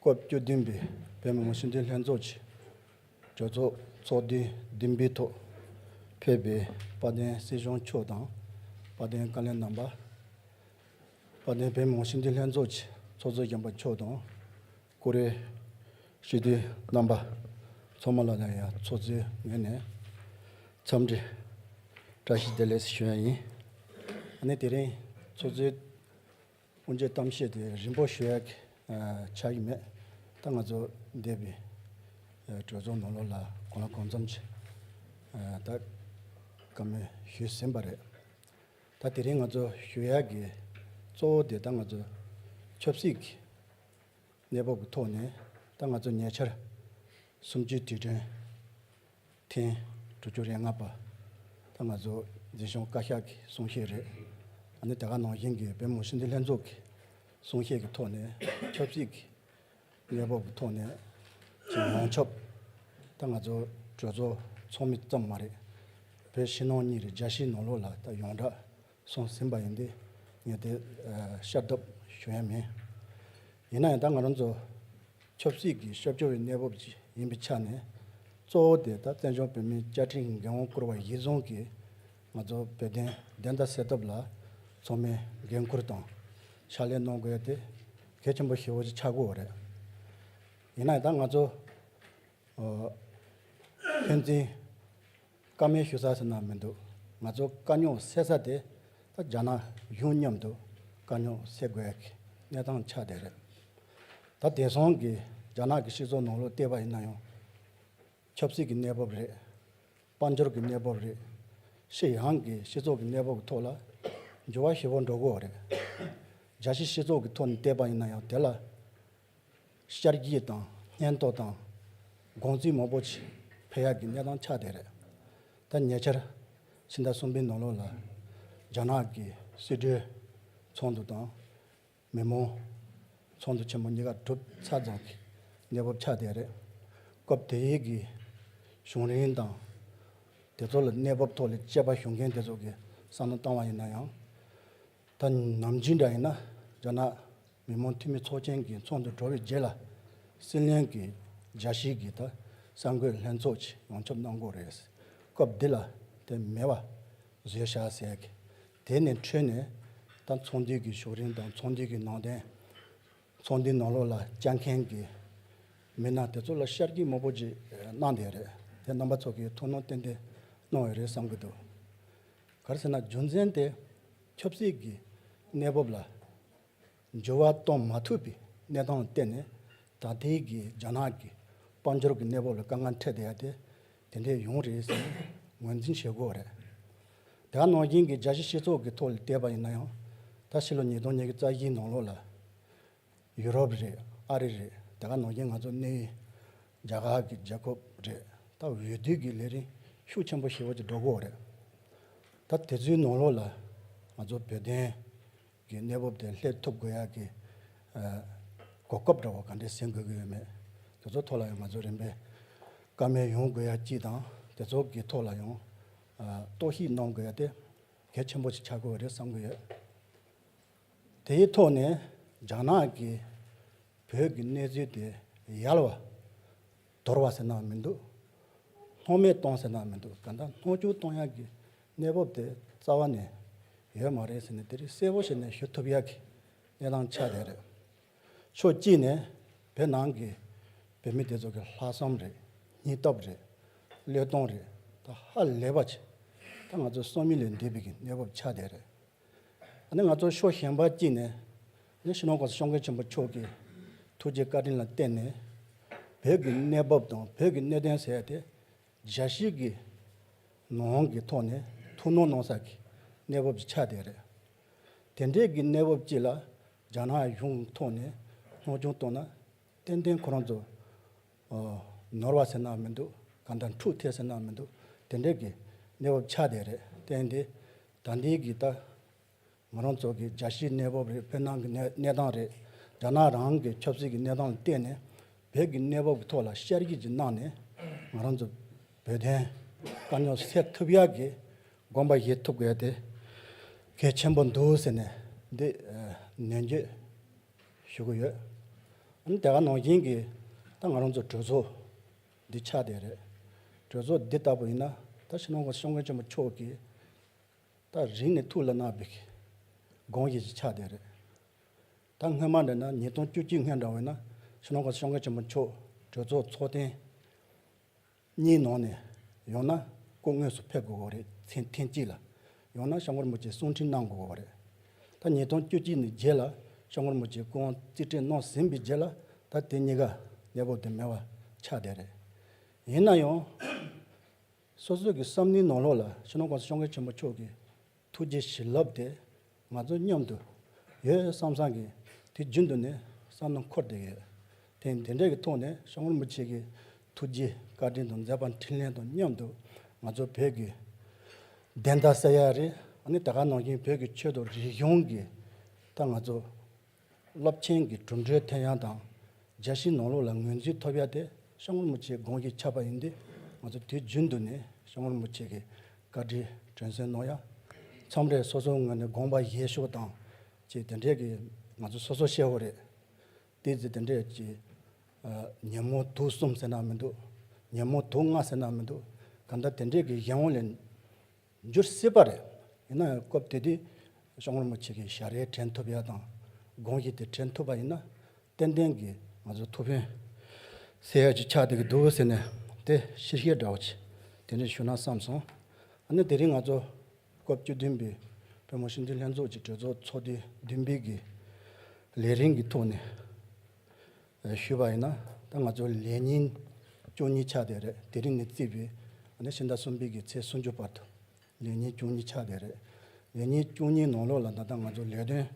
སྐབས་བཅུ་བདུན་པའི་བོད་མི་མང་སྤྱི་འཐུས་ལྷན་ཚོགས་ཀྱི་གྲོས་ཚོགས་ཚོགས་དུས་བདུན་པའི་ཐོག་ཕེབས་པའི་དཔལ་ལྡན་སྲིད་གཞུང་མཆོག་དང་དཔལ་ལྡན་བཀའ་བློན་རྣམ་པ། དཔལ་ལྡན་བོད་མི་མང་སྤྱི་འཐུས་ལྷན་ཚོགས་ཀྱི་ཚོགས་གཙོ་སྤྱི་འབངས་མཆོག་དང་ཀུ་རེ་ཞུ་དུས་རྣམ་པ་ཚང་མ་ལ་ཡང་ཡང་ཚོགས་གཙོའི་ངོས་ནས་འཚམས་འདྲི་བཀྲ་ཤིས་བདེ་ལེགས་ཞུ་ཡ་ཡིན། ད་ནི་དེ་རིང་ཚོགས་གཙོའི། སྔོན་བརྗོད་གཏམ་བཤད་དེ་རིན་པོ་ཞོལ་ཡག་ཆགས་ཀྱི་མེད། ད་ང་ཚོ་འདས་པའི་གྲོས་ཚོགས་ནང་ལོགས་ལ་གང་ལ་གང་འཚམ་ཞིག་ད་ག་མེད་ཞུས་ཟིན་པ་རེད། ད་དེ་རིང་ང་ཚོ་ཞོལ་ཡག་གི་གཙོ་བོ་དེ་ད་ང་ཚོ་ཆབ་སྲིད་ཀྱི་གནས་བབ་ཀྱི་ཐོག་ནས་ད་ང་ཚོ་ཉེ་ཆར་གསུམ་བཅུའི་དུས་དྲན། ཐེངས་དྲུག་ཅུ་རེ་ལྔ་པ་ད་ང་ཚོ་འཛིན་སྐྱོང་བཀའ་ཤག་གི་གསུང་བཤད་རེད། ད་ནི་དེ་ག་ནང་བཞིན་གྱི་བོད་མིའི་སྲིད་འཛིན་ལྷན་ཚོགས་ཀྱི་གསུང་བཤད་ཀྱི་ཐོག་ནས་ཆབ་སྲིད་ཀྱི་གནས་བབ་ཀྱི་ཐོག་ནས་ཀྱི་ཡོངས་ཁྱབ་ད་ང་ཚོ་གྲོས་ཚོགས་ཚོགས་མི་ཙམ་མ་རེད། བོད་ཕྱི་ནང་གཉིས་རེད་རྒྱ་ཕྱི་ནང་ལོགས་ལ་ད་ཡོངས་གྲགས་སོང་ཟིན་པ་ཡིན་ཏེ་ངས་དེ་ཤར་བསྡོབས་ཞུ་ཡ་མེད། ཡིན་ན་ཡང་ད་ང་རང་ཚོ་ཆབ་སྲིད་ཀྱི་ཤོབ་སྦྱོར་བའི་གནས་བབ་ཅིག་ཡིན་པའི་ཆ་ནས་གཙོ་བོ་དེ་ད་བཙན་བྱོལ་བོད་མིའི་བཅའ་ཁྲིམས་འགན་དབང་བསྐུར་བ་གཞིར་བཟུང་གིས་ང་ཚོ་བོད་དོན་བདེན་མཐའ་གསལ་ཐབས་ལ་ཚོགས་མི་འགན་ཁུར་དང་ཕྱག་ལས་གནང་དགོས་ཡ་དེ་གལ་ཆེན་པོ་ཧྲིལ་བོ་ཅིག་ཆགས་དགོས་བ་རེད། ཡིན་ན་ཡང་ད་ང་ཚོ་ཕན་ཚུན། བཀའ་མོལ་ཞུ་ས་ཟེར་ན་མི་འདུག་ང་ཚོ་དཀའ་རྙོག་སེལ་ས་དེ་ད་རྒྱ་ནག་གཞུང་མཉམ་དུ་དཀའ་རྙོག་སེལ་དགོས་ཀྱི་གནས་སྟངས་ཆགས་བསྡད་རེད། ད་དེང་སང་གི་རྒྱ་ནག་གི་སྤྱི་ཚོགས་ནང་ལོག་ལྟས་པ་ཡིན་ན་ཡང། ཆབ་སྲིད་ཀྱི་གནས་བབ་རེད། དཔལ་འབྱོར་གྱི་གནས་བབ་རེད། ཤི་ཡང་གི་སྤྱི་ཚོགས་ཀྱི་གནས་བབ་ཀྱི་ཐོག་ལ་འགྱུར་བ་ཞེ་བོ་འགྲོ་དགོས་རེད། རྒྱ་ཕྱི་སྤྱི་ཚོགས་ཀྱི་ཐོག་ནས་ལྟས་པ་ཡིན་ན་ཡང་དེ་ལ་ཤར་རྒྱུད་དང་སྙན་རྟོག་དང་དགོངས་རྩིས་མང་པོ་ཆེ་འཕེལ་ཡག་གི་གནས་སྟངས་ཆགས་བསྡད་རེད། ད་ཉེ་ཆར་ཕྱི་ཟླ་གསུམ་པའི་ནང་ལོགས་ལ་རྒྱ་ནག་གི་སྲིད་གྲོས་ཚོགས་འདུ་དང། མི་མང་ཚོགས་འདུ་ཆེན་མོ་གཉིས་ཀ་གྲུབ་ཚ་ཙམ་གྱི་གནས་བབ་ཆགས་བསྡད་རེད། སྐབས་དེ་ཡི་གི་གཞུང་རིང་དང། དེ་ཚོ་ལ་གནས་བབ་ཐོག་ལ་དཔྱད་པ་ཞུ་མཁན་དེ་ཚོ་གི་བསམ་བློ་བཏང་བ་ཡིན་ན་ཡང། ད་ནམ་ཇི་འདྲ་ཡིན་ན་རྒྱ་ནག་མི་དམངས་འཐུས་མི་ཚོགས་ཆེན་གྱི་ཚོགས་འདུ་གྲོལ་བའི་རྗེས་ལ་སྲིད་བློན་གྱི་མཇལ་ཞིག་གིས་ད་གསར་འགོད་ལྷན་ཚོགས་ཆེད་ཡོང་ཁྱབ་གནང་སྐོར་རེད། སྐབས་འདི་ལ་དེ་མེད་པ་བཟོས་བཞག་ཟེར་གི། དེ་ནི་འཕྲོས་ནས་ད་ཚོགས་འདུས་ཀྱི་ཞོགས་རིང་དང་ཚོགས་འདུས་ཀྱི་ནང་དོན། ཚོགས་འདུའི་ནང་ལོགས་ལ་བཅར་མཁན་གྱི་མི་སྣ་དེ་ཚོ་ལ་ཤར་གྱི་དམོད་པོ་ཅིག་གནང་བསྡད་རེད་དེ་རྣམ་པ་ཚོ་གིས་ཐུགས་སྣང་གཏན་ཏེ་གནང་བའི་རེད་བསམ་གྱི་འདུག་གར་ཟེར་ན་རྒྱུ་མཚན་དེ་ཆབ་སྲིད་ཀྱི་གནས་བབ་ལ་འགྱུར་བ་གཏོང་མ་ཐུབ་པའི་གནས་སྟངས་བརྟེན་ནས་ད་ལྟའི་གི་རྒྱ་ནག་གི་དཔལ་འབྱོར་གྱི་གནས་བབ་ལ་དཀའ་ངལ་འཕྲད་བསྡད་ཡ་དེ་དེ་འདྲས་ཡོང་རེད་ཟེར་ནས་ངོས་འཛིན་བྱེད་དགོས་པ་རེད། དེའང་ནང་བཞིན་གྱི་རྒྱ་ཆེའི་སྤྱི་ཚོགས་ཀྱི་ཐོག་ལས་བལྟས་པ་ཡིན་ན་ཡང། ད་ཕྱི་ལོ་ཉིས་སྟོང་ཉེར་བརྒྱད་རྩ་བཞིའི་ནང་ལོགས་ལ། ཡུ་རོབ་རེད་ཨ་རི་རེད་དེ་ག་ནང་བཞིན་ང་ཚོ་གནས་ཡུལ་རྒྱ་གར་གྱི་རྒྱལ་ཁབ་རེད་ད་འོས་བསྡུ་གྱི་ལས་རིམ་ཤུགས་ཆེན་པོ་ཞིག་འོག་ཏུ་འགྲོ་དགོས་པ་རེད། ད་དེ་ཚོའི་ནང་ལོགས་ལ་ང་ཚོ་བོད་དོན། གི་གནས་བབ་དེ་སླེབས་ཐུབ་དགོས་ཡ་གི། གོ་སྐབས་འདྲ་བོ་ག་འདྲས་ཟིན་དགོས་ཀྱི་ཡོད་མེད་དེ་ཚོ་ཐོག་ལ་ཡང་ང་ཚོས་རིམ་པས་སྐར་མའི་ཡོང་དགོས་ཡ་སྤྱི་དང་དེ་ཚོ་གི་ཐོག་ལ་ཡང། རྟོག་ཞིབ་གནང་དགོས་ཡ་དེ་གལ་ཆེན་པོ་ཞིག་ཆགས་དགོས་བ་རེད་བསམ་གྱི་ཡོད། དེའི་ཐོག་ནས་རྒྱ་ནག་གི་བོད་ཀྱི་གནས་ཚུལ་དེ་ཡལ་བ། དོར་བ་ཟེར་ནའང་མི་འདུག་སྣོག་མེད་གཏོང་ཟེར་ནའང་མི་འདུག་གང་ལྟར་སྣོག་ཆུང་གཏོང་ཡག་གི་གནས་བབ་དེ་རྩ་བ་ནས་ཡོད་མ་རེད་ཟེར་ནས་དེ་རིགས་གསལ་བོ་ཞིག་ནས་ཞུ་ཐུབ་ཡག་གི་གནས་སྟངས་ཆགས་བསྡད་རེད། ཕྱོགས་གཅིག་ནས་བོད་ནང་གི་བོད་མི་དེ་ཚོ་གི་ལྷག་བསམ་རེད་སྙིང་སྟོབས་རེད་བློས་གཏོང་རེད་ད་ཧ་ལས་པ་ཆེ། ད་ང་ཚོ་སོ་མི་ལས་འདས་པའི་གི་གནས་བབ་ཆགས་བསྡད་རེད། ནི་ང་ཚོ་ཕྱོགས་གཞན་པར་བསྐྱིལ་ནས་ནི་ཕྱི་ནང་གོང་ས་ཤོང་མཁན་ཆེན་པོ་མཆོག་གི་ཐུགས་རྗེ་བཀའ་དྲིན་ལ་བརྟེན་ནས་བོད་ཀྱི་གནས་བབ་དང་བོད་ཀྱི་གནད་དོན་ཟད་དེ་རྒྱལ་སྲིད་ཀྱི་ནང་གི་ཐོག་ནས་ཐུགས་སྣང་གནང་ས་ཀྱི་གནས་བབ་ཀྱི་ཆ་དེ་རེད། དེ་འདྲའི་གི་གནས་བབ་ཅིག་ལ་རྒྱ་ནག་གཞུང་ཐོག་ནས་སྣང་ཆུང་བཏང་ན་ཏན་ཏན་ཁོ་རང་ཚོ། ནོར་བ་ཟེར་ནའང་མི་འདུག་གང་ལྟར་འཁྲུག་ཐེག་ཟེར་ནའང་མི་འདུག་དེ་འདྲའི་གི་གནས་བབ་ཆགས་བསྡད་རེད་བསྟན་ཏེ། ད་འདིའི་གི་ད། ང་རང་ཚོ་གི་རྒྱ་ཤིའི་གནས་བབ་རེད་བོད་ནང་གི་གནས་གནས་སྟངས་རེད། རྒྱ་ནག་རང་གི་ཆབ་སྲིད་ཀྱི་གནས་སྟངས་ལ་བལྟས་ནས། བོད་ཀྱི་གནས་བབ་ཀྱི་ཐོག་ལ་བཤེར་རྒྱུ་ཅིག་གནང་ནས། ང་རང་ཚོ་བོད་དོན་དཀའ་རྙོག་སེལ་ཐུབ་ཡག་གི་དགོངས་པ་བཞེས་ཐུབ་དགོས་དེ་གལ་ཆེན་པོ་འདུག་ཟེར་ནས་འདི་ནན་བརྗོད། ཞུ་གི་ཡོད། འོན་ཏེ་ག་ནང་བཞིན་གྱི་ད་ང་རང་ཚོའི་གྲོས་ཚོགས་འདི་ཆགས་བསྡད་རེད། གྲོས་ཚོགས་འདི་ལྟ་བུ་ཡིན་ན་ད་ཕྱི་ནང་གི་གཤོང་མཁན་ཆེན་པོ་མཆོག་གིས་ད་རིང་ནས་ཐུགས་ལ་བརྣག་པའི་སྒང་ཞིག་ཅིག་ཆགས་བསྡད་རེད། ད་སྔོན་མ་འདི་ན་ཉིས་སྟོང་བཅུ་གཅིག་སྔོན་འདྲ་བས་ན་ཕྱི་ནང་གི་གཤོང་མཁན་ཆེན་པོ་མཆོག་གྲོས་ཚོགས་ཚོགས་ཐེངས། གཉིས་ནང་ནས་ཡང་ན་སྐུ་དངོས་སུ་ཕེབས་དགོས་བ་རེད་ཚེ་ཐེངས་གཅིག་ལ་ཡང་ན་ཤ་འཁོར་མོ་བཅས་གསུང་འཕྲིན་གནང་དགོས་བ་རེད། ད་ཉིས་སྟོང་བཅུ་གཅིག་ནས་རྗེས་ལ་ཤ་འཁོར་མོ་བཅས་སྐུ་དབང་རྩིས་སྤྲད་གནང་ཟིན་པའི་རྗེས་ལ་ད་དེ་གཉིས་ཀ་གནས་བབ་དུ་མེད་བ་ཆགས་བསྡད་རེད། ཡིན་ན་ཡང། སོ་སོས་ཀྱི་བསམ་བློའི་ནང་ལོགས་ལ་ཕྱི་ནང་ཀུང་སི་གཤོང་མཁན་ཆེན་པོ་མཆོག་གིས། ཐུགས་རྗེ་བྱིན་རླབས་དེ་ང་ཚོ་མཉམ་དུ་ཡོད་བསམ་བསམ་གི་དུས་རྒྱུན་དུ་ནས་བསམ་ན་འཁོར་དེ་ཡོད། དེ་འདི་འདྲའི་གི་ཐོག་ནས་ཤོག་རིན་པོ་ཆེ་གི་ཐུགས་རྗེའི་བཀའ་དྲིན་དང་མཛད་པ་འཕྲིན་ལན་དང་མཉམ་དུ་ང་ཚོ་བོད་གི་བདེན་མཐའ་གསལ་ཡ་རེད། ཨ་ནི་ད་ག་ནང་བཞིན་བོད་གི་ཆོས་དང་རིག་གཞུང་གི་ཐ་ང་ཚོ་སློབ་ཆེན་གྱི་གྲུབ་འབྲས་ཐད་ཡང་དང་རྒྱ་ཞིང་ནོར་ལུག་ལ་ངོས་འཛིན་ཐོབ་ཡ་དེ་ཤ་ངུར་མུ་ཆེའི་དགོངས་ཀྱིས་ཁྱབ་པ་ཡིན་དུས་ང་ཚོ་དུས་རྒྱུན་དུ་ནས་ཤ་ངུར་མུ་ཆེ་གི་བཀའ་དྲིན་དྲན་གསོན་གནོང་ཡ། མཚམས་རེར་སོ་སོའི་ངོས་ནས་དགོངས་པ་བཞེས་ཤོག་དང་ཅེས་དེ་འདྲས་ཀྱི་ང་ཚོ་སོ་སོ་ཤེས་བོ་རེད། དེའི་ཚེ་དེ་འདྲས་ཀྱི། ཉིན་མོ་དུག་གསུམ་ཟེར་ན་མི་འདུག་ཉིན་མོ་དུག་ལྔ་ཟེར་ན་མི་འདུག་ག་འདྲ་དེ་འདྲས་ཀྱི་གཞན་ངོ་ལས། འགྱུར་སྲིད་པ་རེད། ཡིན་ནའང་སྐབས་དེ་དུས་ཤོག་ངར་མོ་ཆེ་གི་ཞལ་རས་དྲན་ཐུབ་ཡ་དང་དགོངས་གཞི་དེ་དྲན་ཐུབ་པ་ཡིན་ན་ཏན་ཏན་གྱི་ང་ཚོའི་ཐུགས་ཕན་སེལ་ཡག་ཅིག་ཆགས་འདི་གི་འདུག་ཟེར་ནས་དེ་ཕྱིར་ཤེས་འདྲ་བོ་ཆེ་དེ་འདྲ་ཞུ་ན་བསམ་སོང། ཨ་ནི་དེ་རིང་ང་ཚོ་སྐབས་བཅུ་བདུན་པའི་བོད་མོ་ཞིབ་འཇུག་ལྷན་ཚོགས་ཀྱི་གྲོས་ཚོགས་ཚོགས་དུས་བདུན་པའི་གི་ལས་རིམ་གྱི་ཐོག་ནས། ཞུས་པ་ཡིན་ན་ད་ང་ཚོའི་ལས་ཉིན་བཅུ་གཉིས་ཆགས་བསྡད་རེད་དེ་རིང་ནས་བརྩིས་པའི་ཟླ་ཕྱི་ཟླ་གསུམ་པའི་གི་ཚེས་སུམ་ཅུ་བར་དུ་ལས་ཉིན་བཅུ་གཉིས་ཆགས་བསྡད་རེད་ལས་ཉིན་བཅུ་གཉིས་ནང་ལོགས་ལ་ད་ལྟ་ང་ཚོ་ལས་དོན་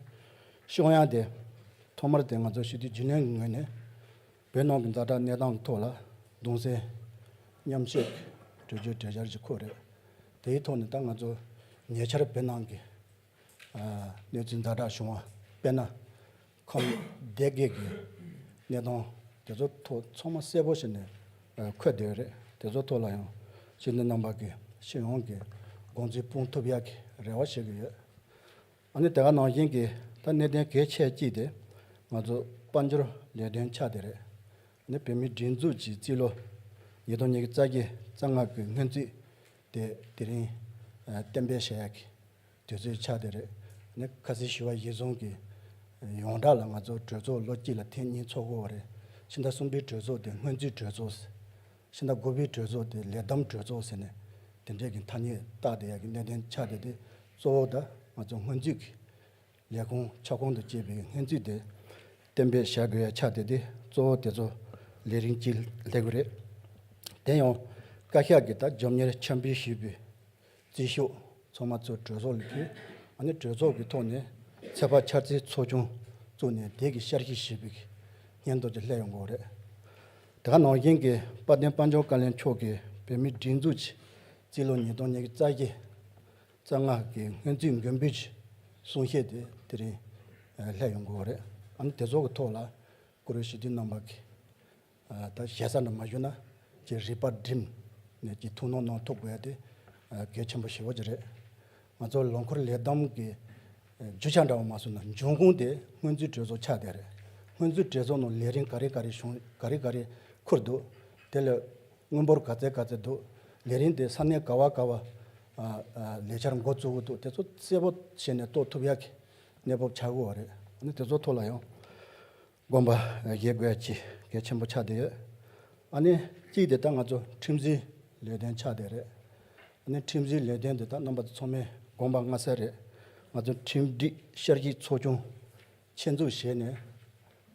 ཤོག་ཡང་དེ་ཐོག་མར་དེ་ང་ཚོ་ཞི་དུལ་རྒྱུན་ལོན་གྱི་ངོས་ནས་བོད་ནང་གི་འཛའ་དྲག་གནས་སྟངས་ཀྱི་ཐོག་ལ་གདུང་སེམས་མཉམ་བསྐྱེད་གྲོས་ཆོད་གྲལ་བཤར་གྱི་ཁོ་རེད་དེའི་ཐོག་ནས་ད་ང་ཚོ་ཉེ་ཆར་བོད་ནང་གི་གནས་ཚུལ་ཛར་དྲག་བྱུང་བ་དཔེར་ན། ཁམས་བདེ་དགེ་གི་གནས་སྟངས་དེ་ཚོ་ཐོག་ཚང་མ་གསལ་པོ་ཞིག་ནས་འཁོད་བསྡད་ཡོད་རེད་དེ་ཚོ་ཐོག་ལ་ཡང་ཕྱི་སྣེ་ནང་པ་གི་ཕྱི་ཡོངས་ཀྱི་དགོངས་ཚུལ་སྤུངས་ཐུབ་ཡག་གི་རེ་བ་བྱེད་ཀྱི་ཡོད། ཨ་ནི་དེ་ག་ནང་བཞིན་གྱི་ད་གནད་དོན་གལ་ཆེ་གཅིག་དེ་ང་ཚོ་དཔལ་འབྱོར་ལས་དོན་ཆགས་དེ་རེད། ནི་བོད་མིའི་སྒྲིག་འཛུགས་ཀྱི་རྩིས་ལོ་ཉིས་སྟོང་ཉིས་བརྒྱ་རྩ་བརྒྱད་རྩ་ལྔ་པའི་སྔོན་རྩིས་ཏེ་དེ་རིང་གཏན་འབེབས་བྱས་ཡག་གི་དུས་ཚོད་ཆགས་དེ་རེད། ནི་ཁ་སིའི་ཞི་བ་གཞིས་བཟུང་གི་ཡོངས་གྲགས་ལ་ང་ཚོ་གྲོས་ཚོགས་ལོ་གཅིག་ལ་ཐེངས་གཉིས་ཚོགས་དགོས་བ་རེད། ཕྱི་ཟླ་གསུམ་པའི་གྲོས་ཚོགས་དེ་སྔོན་རྩིས་གྲོས་ཚོགས་ཟེར། ཕྱི་ཟླ་དགུ་པའི་གྲོས་ཚོགས་དེ་ལས་བསྡོམས་གྲོས་ཚོགས་ཟེར་ནས་དེ་འདྲས་ཀྱི་ཐ་སྙད་བཏགས་ཏེ་ཡག་གི་གནད་དོན་ཆགས་དེ་དེ་གཙོ་བོ་ད་ང་ཚོ་སྔོན་རྩིས་ཀྱི་ལས་ཁུངས་ཁྱབ་ཁོངས་དུ་བཅས་པའི་སྔན་ཚུད་དེ་གཏན་འབེབས་བྱ་དགོས་ཡ་ཆ་དེ་དེ་གཙོ་བོ་དེ་ཚོ་ལས་རིམ་གཅིག་ལས་དགོས་རེད། དེ་ཡང་བཀའ་ཤག་གིས་ད་འཇོམས་གཉེར་འཆམ་འབུལ་ཞུས་པའི་རྩིས་ཤོག་ཚང་མ་ཚོ་གྲོས་ཚོགས་ལ་ཕུལ། ཨ་ནི་གྲོས་ཚོགས་ཀྱི་ཐོག་ནས་ཚད་དཔག་འཆར་རྩིས་ཚོགས་ཆུང་བཙུགས་ནས་དེ་གི་ཤར་གཞི་ཞིབ་པའི་སྙན་ཐོ་དེ་ལྷད་ཡོང་གོ་རེད། དེ་ག་ནང་བཞིན་གྱི་དཔལ་ལྡན་དཔལ་འབྱོར་བཀའ་བློན་མཆོག་གིས་བོད་མིའི་སྒྲིག་འཛུགས་ཀྱི་རྩིས་ལོ་ཉིས་སྟོང་ཉེར་བརྩ་བཞི། རྩ་སྔགས་ཀྱི་སྔོན་རྩིས་མགོན་པོའི་ཆེད་གསུང་བཤད་དེ་དེ་རིང་སླད་ཡོང་དགོས་པ་རེད། ཨ་ནི་དེ་ཚོ་གི་ཐོག་ལ་ཀུ་རེ་ཞི་བདེ་རྣམ་པ་གིས་ད་ཞལ་ས་འདྲ་མ་ཞུ་ན་ཀྱི་རིག་པ་བསྒྲིམས་ནས་ཀྱི་ཐུགས་སྣང་གནང་ཐུབ་དགོས་དེ་གལ་ཆེན་པོ་ཞེ་བོ་ཅིག་རེད། ང་ཚོ་ལོ་འཁོར་ལས་བསྡོམས་ཀྱི་རྒྱུ་ཆ་འདྲ་བ་མ་བཟོ་ན་འབྱུང་ཁུངས་དེ་སྔོན་རྩིས་གྲོས་ཚོགས་ཆགས་བསྡད་རེད། སྔོན་རྩིས་གྲོས་ཚོགས་ནང་ལས་རིམ་ག་རེ་ག་རེ་བྱུང་ག་རེ་ག་རེ་ཁུར་འདུག་དེ་ལས། དངུལ་འབོར་ག་ཚད་ག་ཚད་འདུག་ལས་རིན་དེ་ས་གནས་ག་བ་ག་བ། ལས་འཆར་མགོ་གཙོ་བོ་འདུག་དེ་ཚོ་གསལ་པོ་བྱས་ནས་གཏོད་ཐུབ་ཡག་གི་གནས་བབ་ཆགས་དགོས་བ་རེད། ཨ་ནི་དེ་ཚོ་ཐུགས་ལ་ཡང་དགོངས་པ་བཞེས་དགོས་ཀྱི་གལ་ཆེན་པོ་ཆགས་བསྡད་ཡོད། ཨ་ནི་གཅིག་དེ་ལྟ་ང་ཚོ་ཁྲིམས་འཛིན་ལས་དོན་ཆགས་བསྡད་རེད། ཨ་ནི་ཁྲིམས་འཛིན་ལས་དོན་དེ་དག་རྣམ་པ་ཚོ་ཚང་མའི་དགོངས་པ་མངའ་གསལ་རེད། ང་ཚོ་ཁྲིམས་སྒྲིག་ཤར་གྱི་ཚོགས་ཆུང་ཆེད་འཛུགས་བྱས་ནས།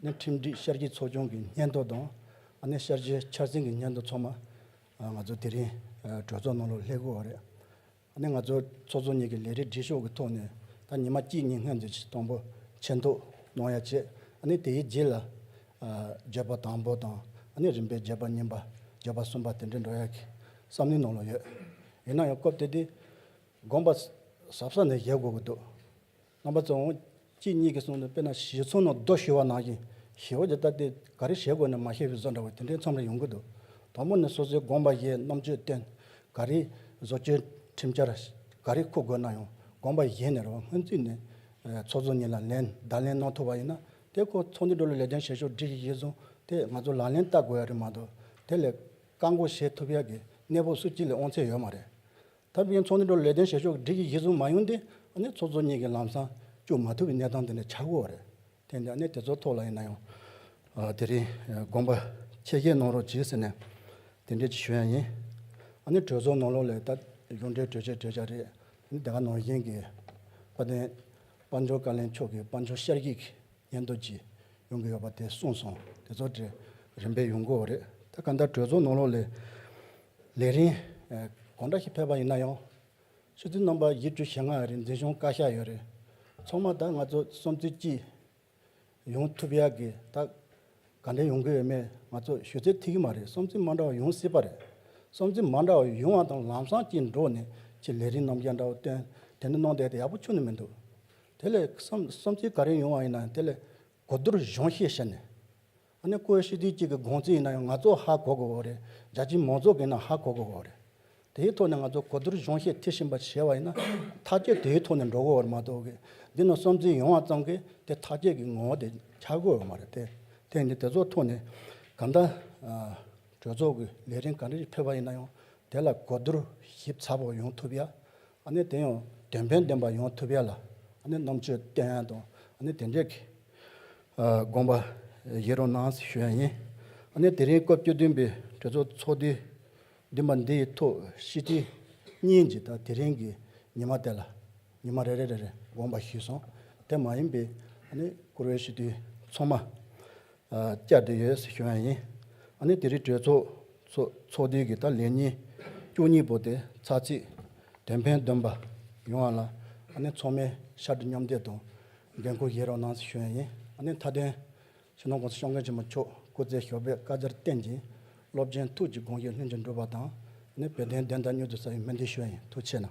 ནས་ཁྲིམས་སྒྲིག་ཤར་གྱི་ཚོགས་ཆུང་གི་སྙན་ཐོ་དང། ནས་ཤར་གྱི་འཆར་ཟིན་གྱི་སྙན་ཐོ་ཚང་མ། ང་ཚོ་དེ་རིང་གྲོས་ཚོགས་ནང་ལོགས་ལྷད་དགོས་བ་རེད། ནས་ང་ཚོ་ཚོགས་གཙོ་གཉིས་ཀྱི་ལས་རིགས་སྒྲིག་ཤོག་གི་ཐོག་ནས་ད་ཉི་མ་གཅིག་གཉིས་སྔོན་འཛིན་སྟོང་པོ་ཆེན་ཐོ་གནང་ཡ་ཆེད། ནས་དེའི་རྗེས་ལ། བརྗོད་པ་དང་པོ་དང། ནས་རིམ་པས་བརྗོད་པ་གཉིས་པ། བརྗོད་པ་གསུམ་པ་དེ་འདྲས་འགྲོ་ཡ་གི་བསམ་བློའི་ནང་ལོགས་ཡོད། ཡིན་ན་ཡང་སྐབས་དེ་དུས། དགོངས་པ་ཟབ་ས་ནས་བཞེས་དགོས་གི་འདུག། རྣམ་པ་ཙམ་མོ། གཅིག་གཉིས་ཀྱིས་གསུངས་ནས་དཔེར་ན་བཞི་ཚོ་ནོ་རྡོ་བཞི་བ་ནང་བཞིན་བཞི་བ་དེ་ལྟ་སྟེ་ག་རེ་བཞེད་དགོས་ནས་མ་བཤད་པའི་བཟོ་འདྲ་བ་དེ་འདྲའི་མཚམས་རེ་ཡོང་གི་འདུག་དང་པོ་ནས་སོ་སོའི་དགོངས་པ་བཞེས་རྣམ་དཔྱོད་བསྟེན། ག་རེ་བཟོ་བཅོས་ཁྲིམས་འཆར་ག་རེ་འཁུར་དགོས་ན་ཡང་དགོངས་པ་བཞེས་ནས་རེ་བ་སྔོན་རྩིས་ནས། ཚོགས་གཙོ་གཉིས་ལ་ལན་བརྡ་ལན་གནང་ཐུབ་པ་ཡིན་ན་དེ་ཁོ་ཚོགས་འདུའི་འགྲོ་ལུགས་ལས་དོན་བྱེད་ཕྱོགས་སྒྲིག་གཞི་གཞིར་བཟུང་སྟེ་ང་ཚོ་ལག་ལེན་བསྟར་དགོས་ཡ་རེད་མ་གཏོགས་དེ་ལས་བཀག་འགོག་བྱེད་ཐུབ་ཡ་གི་གནས་བབ་སུ་གཅིག་ལས་དབང་ཚད་ཡོད་མ་རེད། ད་བུན་ཚོགས་ནི་འགྲོ་ལས་དོན་བྱེད་ཕྱོགས་སྒྲིག་གི་གཞི་བཟུང་མ་ཡོང་དུས་ནི་ཚོགས་གཙོ་གཉིས་ཀྱི་ལམ་སང་བཅུག་མ་ཐུབ་པའི་གནས་སྟངས་དེ་ནི་ཆགས་འགོ་རེད། དེ་འདྲ་གནས་དེ་ཚོ་ཐོག་ལ་ཡིན་ན་ཡང། དེ་རིང་དགོངས་པ་ཆེ་བཞེས་གནང་རོགས་གྱིས་ཟེར་ནས་དེ་འདྲས་ཀྱི་ཞུ་ཡ་ཡིན། གྲོས་ཚོགས་ནང་ལོགས་ལས་ད་གཞུང་འབྲེལ་གྲོས་ཆོད་གྲོས་འཆར་རེད། དེ་ག་ནང་བཞིན་གྱི་དཔལ་ལྡན་དཔལ་འབྱོར་བཀའ་བློན་མཆོག་གི་དཔལ་འབྱོར་ཤར་གྱིས། ཉན་ཐོས་ཀྱིས། ཡོང་གི་ཡོད་པ་དེ་གསུངས་སོང། དེ་ཚོ་དེ་རིམ་པས་ཡོང་དགོས་རེད། ད་ག་འདྲ་གྲོས་ཚོགས་ནང་ལོག་ལས། ལས་རིང། གང་འདྲ་ཞིག་ཕེབས་པ་ཡིན་ན་ཡང། ཆུ་ཚོད་རྣམ་པ་བཞི་བཅུ་ཞེ་ལྔ་རིང་འཛིན་བྱུང་བཀའ་ཤག་ཡོད་རེད། ཚང་མ་ད་ང་ཚོ་སོམས་ཚུལ་གྱིས། ཡོང་ཐུབ་ཡག་གི་ད། ག་འདྲས་ཡོང་གི་ཡོད་མེད་ང་ཚོ་ཞུ་ཚད་ཐིག་གི་མ་རེད་སོམས་ཚུལ་མ་འདྲ་བ་ཡོང་སྲིད་པ་རེད། སོམས་ཚུལ་མ་འདྲ་བ་ཡོང་བ་དང་ལམ་སང་གཅིག་འགྲོགས་ནས་ཕྱིས་ལས་རིང་རྣམ་རྒྱལ་འདྲ་བོ་བཏོན་དེ་འདྲ་གནང་བསྡད་དེ་ཡག་པོ་ཆུག་ནི་མི་འདུག། དེ་ལས་བསམ་ཚུལ་ག་རེ་ཡོང་བ་ཡིན་ནའང་དེ་ལས་གོ་བསྡུར་གཞུང་ཤེས་བྱས་ནས། ཨ་ནི་ཀོའི་ཤེས་ཚུལ་གཅིག་གི་དགོངས་ཚུལ་ཡིན་ན་ཡང་ང་ཚོ་ཧ་གོ་དགོས་བ་རེད་རྒྱ་ཆེའི་མང་ཚོགས་ཀྱིས་ནའང་ཧ་གོ་དགོས་བ་རེད། དེའི་ཐོག་ནས་ང་ཚོ་གོ་བསྡུར་གཞུང་ཤེས་དེ་བཞིན་པ་བྱས་བ་ཡིན་ན་ཐག་བཅད་དེའི་ཐོག་ནས་འགྲོ་དགོས་བར་མ་གཏོགས་ཀྱི་འདི་ནས་བསམ་ཚུལ་ཡོང་བ་ཙམ་གྱིས་དེ་ཐག་བཅད་ཀྱི་ངོ་བོ་དེ་འཁྱར་དགོས་བ་མ་རེད་དེ། དེ་ནི་དེ་ཚོ་ཐོག་ནས་གང་ལྟར་གྲོས་ཚོགས་ཀྱི་ལས་རིམ་ག་རེ་ཞིག་ཕེབས་བ་ཡིན་ན་ཡང་དེ་ལ་གོ་བསྡུར་ཞིབ་ཚགས་པོ་ཡོང་ཐུབ་ཡ་དེ་ཡང་དོན་ཕན་ལྡན་པ་ཡོང་ཐུབ་ཡ་ལ་རྣམ་དཔྱོད་བརྟན་དང་དེ་འདྲའི་དགོངས་པ་བཞེས་རོགས་གནང་ཞུ་ཡ་ཡིན། དེ་རིང་སྐབས་བཅུ་བདུན་པའི་གྲོས་ཚོགས་ཚོགས་དུས་བདུན་པ་འདི་ཡི་ཐོག་ཧྲིལ་ཁྲི་གཉིས་ཀྱི་དང་དེ་རིང་གི་ཉི་མ་དེ་ལ་ཉི་མ་རེ་རེ་རེ་རེ་དགོངས་པ་བཞེས་སོང་དེ་མ་ཡིན་པའི་བཀུར་འོས་ཞུ་དུས་ཚང་མ་བཅའ་སྡོད་ཡོད་ཟེར་ཞུ་ཡང་ཡིན། ཨ་ནི་དེ་རིང་གྲོས་ཚོགས་ཚོགས་དུས་ཀྱི་ད་ལན་ཉིན་བཅུ་གཉིས་པོ་དེ་ཚར་རྗེས་དོན་ཕན་འདོན་པ་ཡོང་བ་ལ་ཨ་ནི་ཚོགས་མིའི་ཤར་དུ་མཉམ་བསྡད་དང་འགན་འཁུར་བཞེས་རོགས་གནང་ཟེར་ཞུ་ཡང་ཡིན། ཨ་ནི་མཐའ་དོན། ཕྱི་ནང་ཀུང་སི་གཤོང་མཁན་ཆེན་མོ་མཆོག་སྐུ་ཚེ་ཞོགས་པའི་བཀའ་རྒྱར་བརྟེན་ཅིང་སློབ་ཆེན་ཐུགས་ཀྱི་དགོངས་བཞེད་ལྷུན་གྱིས་འགྲུབ་པ་དང་ཨ་ནི་བོད་དོན་བདེན་མཐའ་མྱུར་དུ་ས་ཡོམ་སྨོན་འདུན་ཞུ་ཡང་ཡིན་ཐུགས་ཆེ་གནང།